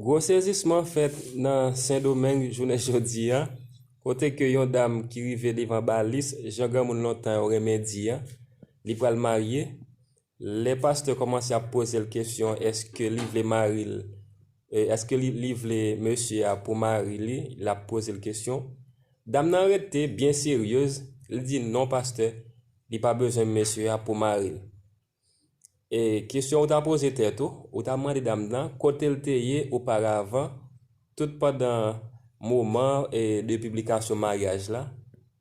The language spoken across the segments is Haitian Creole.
Gwo sezisman fèt nan Sendomeng jounen jodi a, kote ke yon dam ki rive devan balis, jan granmoun lontan yo renmen di a, li pral marye, lè pastè kòmanse ap poze l kesyon eske li vle mari l, eske li vle mesye a pou mari li, l ap poze l kesyon, dam nan rete byen seryez, li di non pastè, li pa bezwen mesye a pou mari l. E kesyon ou ta poze tèt ou, ou ta mande dam nan kote l te ye oparavan tout pandan moman de piblikasyon maryaj la,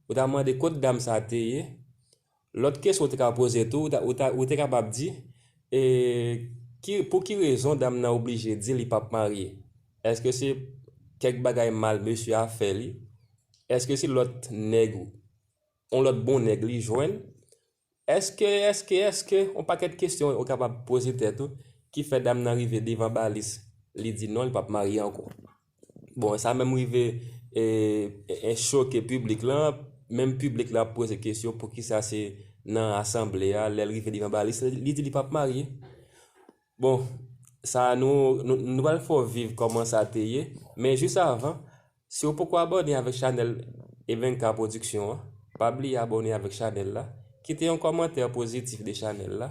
ou ta mande kot dam sa te ye, lòt kesyon ou te ka poze tou, ou te kapab di, pou ki rezon dam nan oblije di li pap marye, èske se kèk bagay mal mesye a fè li, èske se lòt nèg, yon lòt bon nèg li jwenn, Eske, eske, eske, on pakèt kesyon ou kapab poze tèt ou ki fè dam nan rive devan balis li di non li pap marye ankò. Bon, sa menm rive e choke piblik lan, menm piblik la ap poze kesyon poukisa se nan asanble a lèl rive devan balis li di li pap marye. Bon, sa nou nou pral fè w viv kòman sa te ye, men jis avan Si ou poko abòne avèk chanèl Evenka production an, pa bliye abòne avèk chanèl la, kite yon kòmantè pozitif de chanèl la,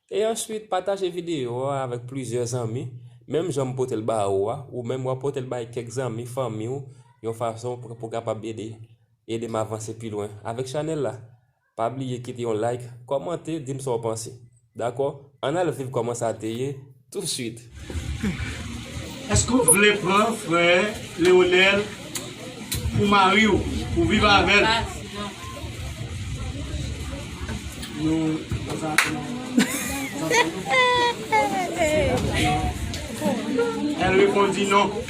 e answit pataje videyo a avèk plizyè zanmi, menm jan m pote l ba ou a, ou menm wap pote l bay kèk zanmi, fanmi w, yon fason pou kapab ede ede m avanse pi lwen avèk chanèl la. Pa bliye kite yon like, kòmante, dim sa w panse. Dakò? Ann al viv kòman sa te ye touswit! Eske ou vle pran frè Leonel pou mari w pou viv avè l? El repondi non.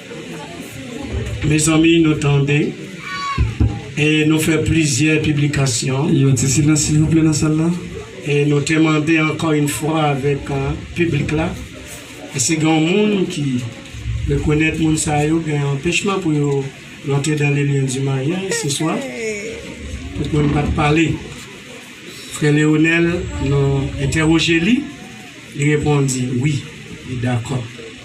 Mezanmi nou tande e nou fè plizyè piblikasyon. Gen yon ti silans silvouplè nan sal la. E nou te mande ankò yn fwa avèk piblik la, èske gen yon moun ki rekonèt moun sa yo gen anpechman pou yo rantre dans le lieu du mariage se swa? Tout moun pat pale. Frè Leonel nou entèwoje li, li repondi wi, li dakò.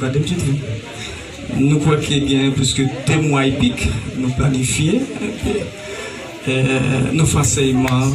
Gade ptit li. Nou kwè ke gen plis ke 2 mwa epik nou planifye, nou fè ansèyman.